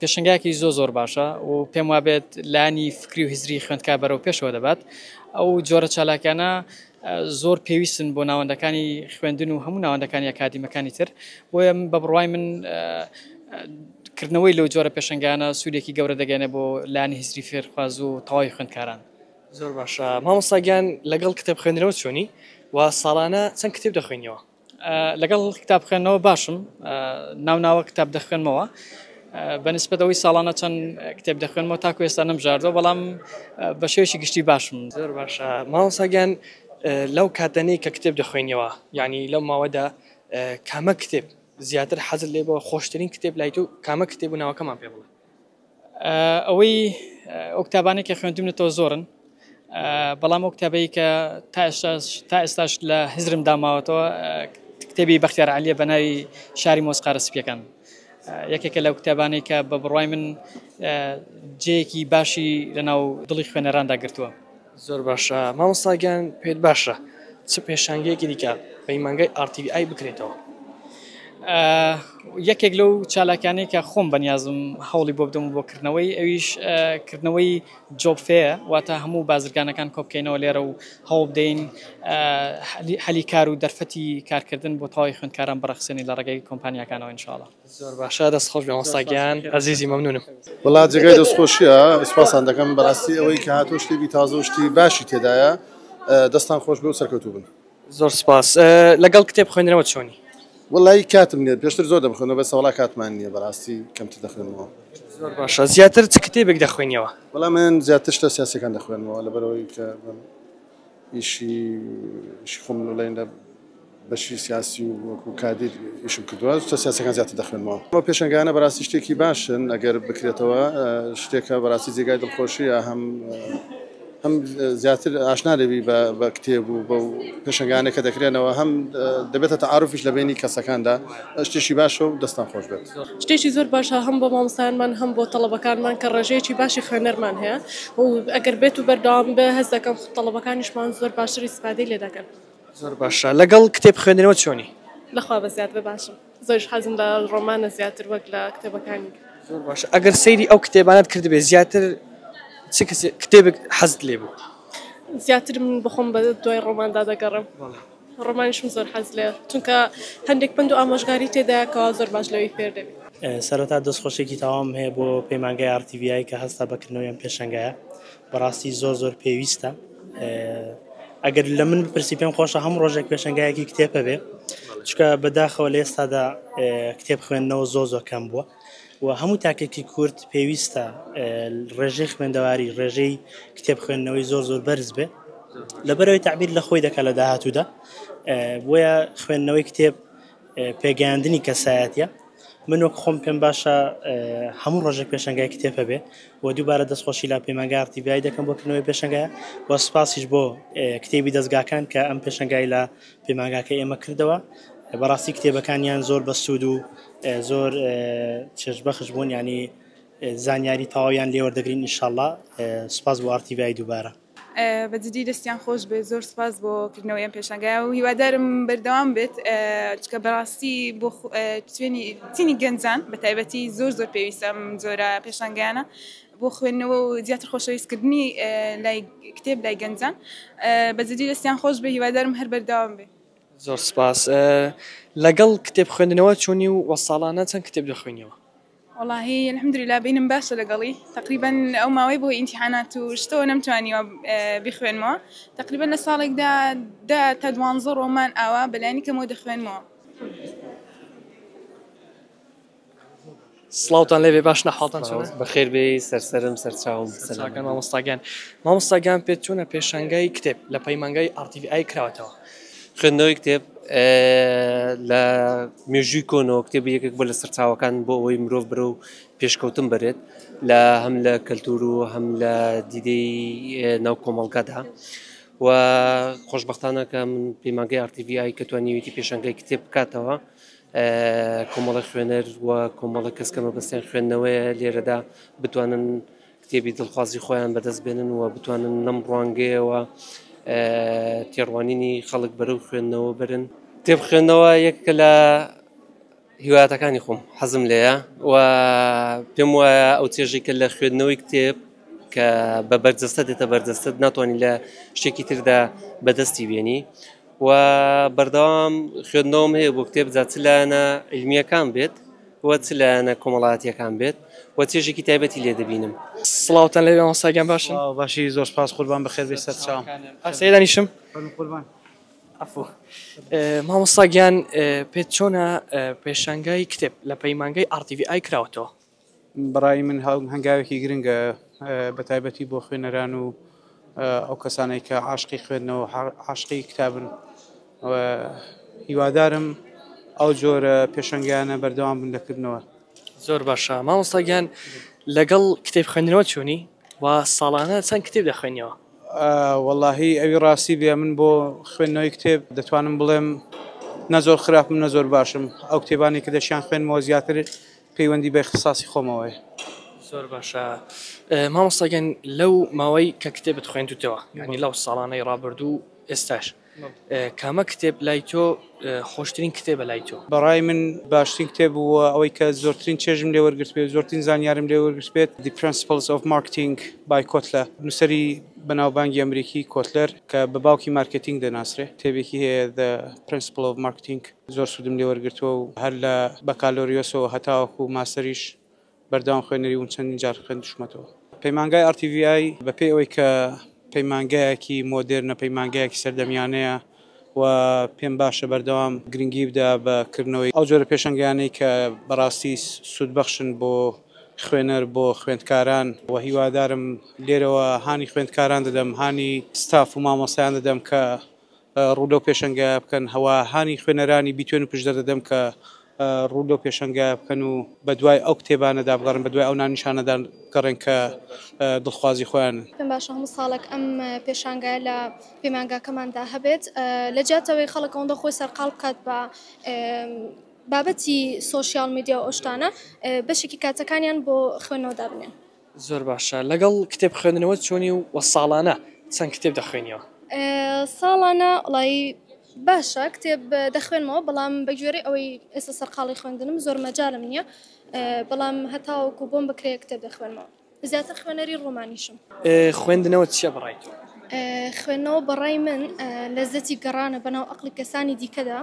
پێشنگایەکی زۆ زۆر باشە و پێم وابێت لانی فکری و هزری خوێندکار بەرەو پێشەوە دەبات ئەو جۆرە چالاکانە زۆر پێویستن بۆ ناوەندەکانی خوێندن و هەموو ناوەندەکانی ئەکادیمەکانی تر بۆیە بە بڕوای من کردنەوەی لەو جۆرە پێشنگانە سوودێکی گەورە دەگەێنێ بۆ لانی هزری فێرخواز و تەواوی خوێندکاران زۆر باشە مامۆساگیان لەگەڵ کتێب خوێندنەوە چۆنی و ساڵانە چەند کتێب دەخوێنیەوە لەگەڵ کتاب خوێندنەوە باشم ناو ناوە کتاب دەخوێنمەوە بەنسبەت ئەوەی ساڵانە چەند کتێب دەخوێنمەوە تاکو ئێستا نەمژاردەوە بەڵام بە شێوەیەکی گشتی باشم زۆر باشە ماوەساگیان لەو کاتەنەی کە کتێب دەخوێنیەوە یعنی لەو ماوەدا کامە کتێب زیاتر حەزل لێ بۆ خۆشترین کتێب لای تو کامە کتێب و ناوەکەمان پێ بڵێ ئەوەی ئەو کتابانەی کە خوێندومنەتەوە زۆرن بەڵام ئەو کتابەی کە تا ئێستاش تا ئێستاش لە هزرم داماوەتەوە کتێبی بەختیار علیە بە ناوی شاری مۆسقارە سپیەکان یەکێکە لەو کتابانەی کە بە بڕای من جەیەکی باشی لەناو دڵی خوێنەراندا گرتووە. زۆر باشە مامۆستا گیان پێت باشە چ پێشانگەیەکی دیکە پەیمانگای ئار تی ڤی ئای بکرێتەوە؟ یەکێک لەو چالاکانەی کە خۆم بەنیازم هەوڵی بۆ بدەم بۆ کردنەوەی ئەویش کردنەوەی جۆب فێ واتە هەموو بازرگانەکان کۆبکەینەوە لێرە و هەوڵ بدەین هەلی کار و دەرفەتی کارکردن بۆ تەواوی خوێندکاران بڕەخسێنین لە ڕێگەی کۆمپانیاکانەوە ان شاء اللە. زۆر باشە دەست خۆش بێ مامۆستا گیان ئەزیزی مەمنونم. وەڵا جێگای دەست خۆشیە سوپاستان دەکەم بەڕاستی ئەوەی کە هاتۆ شتێکی تازە و شتی باشی تێدایە دەستان خۆش بێ و سەرکەوتوو بن. زۆر سوپاس لەگەڵ کتێب خوێندنەوە چۆنی؟ وەڵایی کاتم نیە پێشتر زۆر دەمخوێنەوە بەس وەڵا کاتمان نیە بەڕاستی کەمتر دەخوێنمەوە. زۆر باشە زیاتر چ کتێبێک دەخوێنیەوە؟ وەڵا من زیاتر شتە سیاسەکان دەخوێنمەوە لەبەرەوەی کە ئیشی ئیشی خۆم لەڵێن لە بەشی سیاسی و وەکو کادیر ئیشم کردوە شتە سیاسیەکان زیاتر دەخوێنمەوە. ئەو پێشەنگانە بەراستی شتێکی باشن ئەگەر بکرێتەوە شتێکە بەراستی جێگای دڵخۆشیە هەم هەم زیاتر ئاشنا دەبی بە بە کتێب و بەو پێشەنگانە کە دەکرێنەوە هەم دەبێتە تەعاروفیش لە بەینی کەسەکاندا شتێکی باشە و دەستان خۆش بێت. شتێکی زۆر باشە هەم بۆ مامۆستایانمان هەم بۆ تەڵەبەکانمان کە ڕێژەیەکی باشی خوێنەرمان هەیە و ئەگەر بێت و بەردەوام بێ هەست دەکەم تەڵەبەکانیشمان زۆر باشتر ئیستفادەی لێ دەکەن. زۆر باشە لەگەڵ کتێب خوێندنەوە چۆنی؟ لەخوا بە زیادبە باشم زۆریش حەزم لە ڕۆمانە زیاتر وەک لە کتێبەکانی تر. زۆر باشە ئەگەر سەیری ئەو کتێبانەت کردبێ زیاتر چ کتێبێک حەزت لێ بوو؟ زیاتر من بەخۆم بە دوای ڕۆماندا دەگەڕێم ڕۆمانیشم زۆر حەز لێ چونکە هەندێک پند و ئامۆژگاری تێدایە کەوا زۆر باش لەوەی فێر دەبی. سەرەتا دەست خۆشێکی تەواوم هەیە بۆ پەیمانگای ئاڕ تی ڤی ئای کە هەستا بە کردنەوەی ئەم پێشەنگایە. بەڕاستی زۆر زۆر پێویستە ئەگەر لە من پرسی پێم خۆشە هەم ڕۆژێک پێشنگایەکی کتێبە بێ چکە بەداخەوە لە ئێستادا کتێب خوێندنەوە زۆ زۆ کەم بووە و هەموو تاکێکی کورت پێویستە ڕێژەی خوێندەواری ڕێژەی کتێب خوێندنەوەی زۆر زۆر بەرز بێ لەبەرەوەی تعبیر لە خۆی دەکە لە داهاتوودا بۆیە خوێندنەوەی کتێب پێگەیاندنی کەسایەتیە من وەک خۆم پێم باشە هەموو ڕۆژێک پێشنگای کتێب هەبێ و دووبارە دەستخۆشی لا پەیمانگارتی بیای دەکەم بۆ کردنەوەی پێشنگای و سپاسیش بۆ کتێبی دەستگاکان کە ئەم پێشنگای لە پەیمانگاکە ئێمە کردەوە بەڕاستی کتێبەکانیان زۆر بەسوود و زۆر چێژبەخش بوون ینی زانیاری تەواویان لێوەردەگرین نیشاءله سپاس بۆ ئارتیڤای دووبارە بە جدی دەستیان خۆش بێت زۆر سپاس بۆ کردنەوەی ئەم پێشنگایە و هیوادارم بەردەوام بێت چکە بەڕاستی بۆ توێنی تینی گەنجان بە تایبەتی زۆر زۆر پێویستم زۆرە پێشنگیانە بۆ خوێندنەوە و زیاتر خۆشەویستکردنی لای کتێب لای گەنجان بە جدی دەستیان خۆش بێ هیوادارم هەر بەردەوام بێت زۆر سپاس لەگەڵ کتێب خوێندنەوە چۆنی و وە ساڵانە چەند کتێب دەخوێنیەوە وەڵاهی الحمدللە بینم باشە لەگەڵی تەقریبەن ئەو ماوەی بۆ ئینتیحانات و شتەوە نەمتوانیوە بخوێنمەوە تەقریبەن لە ساڵێکدا دە تا دوانزە ڕۆمان ئاوا بەلانی کەمەوە دەخوێنمەوە. سڵاوتان لێبێ باش نەحاڵتان چۆنە؟ بەخێر بێ سەرسەرم سەرچاوم سەرچاکان مامۆستاگیان مامۆستاگیان پێت چۆنە پێشانگای کتێب لە پەیمانگای ئاڕتیڤی ئای کراوەتەوە؟ خوێندنەوەی کتێب لە مێژووی کۆنەوە کتێبی یەکێک بە لە سەرچاوەکان بۆ ئەوەی مرۆڤ برە و پێشکەوتن بەرێت لە هەم لە کەلتور و هەم لە دیدەی ناو کۆمەڵگەدا و خۆشببختانە کە من پەیمانگەی ئارتیVI کە توانیویتی پێشنگای کتێب بکاتەوە کۆمەڵی خوێنەر و کۆمەڵە کەس کەمە بەستێن خوێندنەوەیە لێرەدا بتوانن کتێبی دڵخوازی خۆیان بەدەست بێنن و بتوانن لەم ڕوانگەیەوە تێڕوانینی خەڵک بەرەو خوێندنەوە برن کتێب خوێندنەوە یەک لە هیواتەکانی خۆم حەزم لەیە و پێم وایە ئەو چێژی کە لە خوێندنەوەی کتێب کە بە بەرجەستە دێتە بەردەستت ناتوانانی لە شتێکی تردا بەدەستی بێنی و بەردەوام خوێندنەوەم هەیە بۆ کتێب جاچلانە علمیەکان بێت و چ لایەنە کۆمەڵایەتیەکان بێت و چێژێکی تایبەتی لێ دەبینم. سڵاوتان لێبێ مامۆستا گیان باشن. سڵاو باشی زۆر سپاس قوربان بەخێر بێی سەرچاوم. ئەرسەیە دانیشم. فەرموو قوربان. عەفو مامۆستا گیان پێت چۆنە پێشانگای کتێب لە پەیمانگەی RTVI کراوەتەوە؟ بەڕای من هەنگاوێکی گرنگە بەتایبەتی بۆ خوێنەران و ئەو کەسانەی کە عاشقی خوێندنەوە عاشقی کتابن هیوادارم ئەو جۆرە پێشنگیانە بەردەوام بن دەکردنەوە زۆر باشە مامۆستاگیان لەگەڵ کتێب خوێندنەوە چۆنی و ساڵانە چەند کتێب دەخوێنیەوە واللهی ئەوی ڕاستی بێ من بۆ خوێندنەوەی کتێب دەتوانم بڵێم نەزۆر خراپم نەزۆر باشم ئەو کتێبانی کە دەشیان خوێنمەوە زیاتر پەیوەندی بە اختصاصی خۆمەوەیە. زۆر باشە مامۆستا گیان لەو ماوەی کە کتێبت خوێندوتەوە یانی لەو ساڵانەی ڕابردوو و ئێستاش کامە کتێب لای تۆ خۆشترین کتێبە لای تۆ؟ بەڕای من باشترین کتێب بووە ئەوەی کە زۆرترین چێژم لێ وەرگرتبێت زۆرترین زانیارم لێ وەرگرتبێت The Principles of Marketing by Kotler نووسەری بەناوبانگی ئەمریکی کۆتلەر کە بە باوکی مارکێتینگ دەناسرێ کتێبێکی هەیە The Principles of Marketing. زۆر سوودم لێ وەرگرتووە و هەر لە بەکالۆریۆسەوە هەتاوەکوو ماستەریش بەردەوام خوێنەری وم چەندین جار خوێندشمەتەوە. پەیمانگای RTVI بەپێی ئەوەی کە پەیمانگایەکی مۆدێرنە، پەیمانگایەکی سەردەمیانەیە و پێم باشە بەردەوام گرنگی بدا بە کردنەوەی ئەو جۆرە پێشەنگیانەی کە بەڕاستی سوودبەخشن بۆ خوێنەر، بۆ خوێندکاران و هیوادارم لێرەوە هانی خوێندکاران دەدەم، هانی ستاف و مامۆستایان دەدەم کە ڕوو لەو پێشەنگایە بکەن هەوا هانی خوێنەرانی بیتوێن و پشدەر دەدەم کە ڕوو لەو پێشەنگایە بکەن و بە دوای ئەو کتێبانەدا بگەڕێن بە دوای ئەو ناونیشانەدا بگەڕێن کە دڵخوازی خۆیانن. پێم باشە هەموو ساڵێک ئەم پێشانگایە لە پەیمانگاکەماندا هەبێت لە جیاتی ئەوەی خەڵک ئەوەندە خۆی سەرقاڵ بکات بە بابەتی سۆشیاڵ میدیا و ئەو شتانە بەشێکی کاتەکانیان بۆ خوێندنەوە دابنێن. زۆر باشە لەگەڵ کتێب خوێندنەوەت چۆنی و وە ساڵانە چەند کتێب دەخوێنیەوە؟ ساڵانە وەڵایی باشە کتێب دەخوێنمەوە بەڵام بە گوێرەی ئەوەی ئێستا سەرقاڵی خوێندنم زۆر مەجالم نییە بەڵام هەتاوەکو بۆم بکرێ کتێب دەخوێنمەوە زیاتر خوێنەری ڕۆمانیشم. خوێندنەوە چیە بە ڕای تۆ؟ خوێندنەوە بە ڕای من لەزەتی گەڕانە بەناو ئەقڵی کەسانی دیکەدا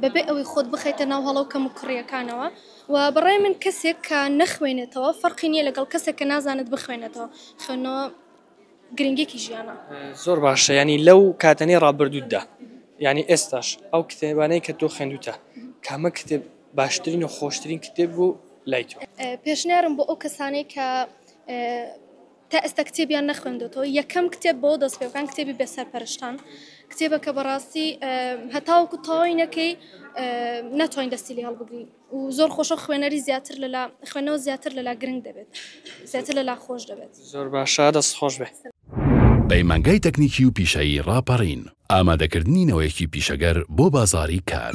بەبێ ئەوەی خۆت بخەیتە ناو هەڵە و کەموکوڕیەکانەوە، وە بەڕای من کەسێک کە نەخوێنێتەوە فەرقی نیە لەگەڵ کەسێک کە نازانێت بخوێنێتەوە خوێندنەوە گرنگێکی ژیانە. زۆر باشە یانی لەو کاتەنەی ڕابردووتدا یانی ئێستاش ئەو کتێبانەی کە تۆ خوێندوتە کامە کتێب باشترین و خۆشترین کتێب بوو لای تۆ؟ پێشنیارم بۆ ئەو کەسانەی کە. تا ئێستا کتێبیان نەخوێندۆتەوە یەکەم کتێب بەوە دەست پێبکەن کتێبی بێ سەرپەرشتان کتێبە کە بەڕاستی هەتاوەکو تەواوی نەکەی ناتوانین دەستی لێ هەڵبگرین و زۆر خۆشە خوێنەری زیاتر لەلا خوێنەوە زیاتر لەلا گرنگ دەبێت زیاتر لەلا خۆش دەبێت زۆر باشە دەست خۆش بێ. پەیمانگای تەکنیکی و پیشەیی ڕاپەڕین، ئامادەکردنی نەوەیەکی پیشەگەر بۆ بازاڕی کار.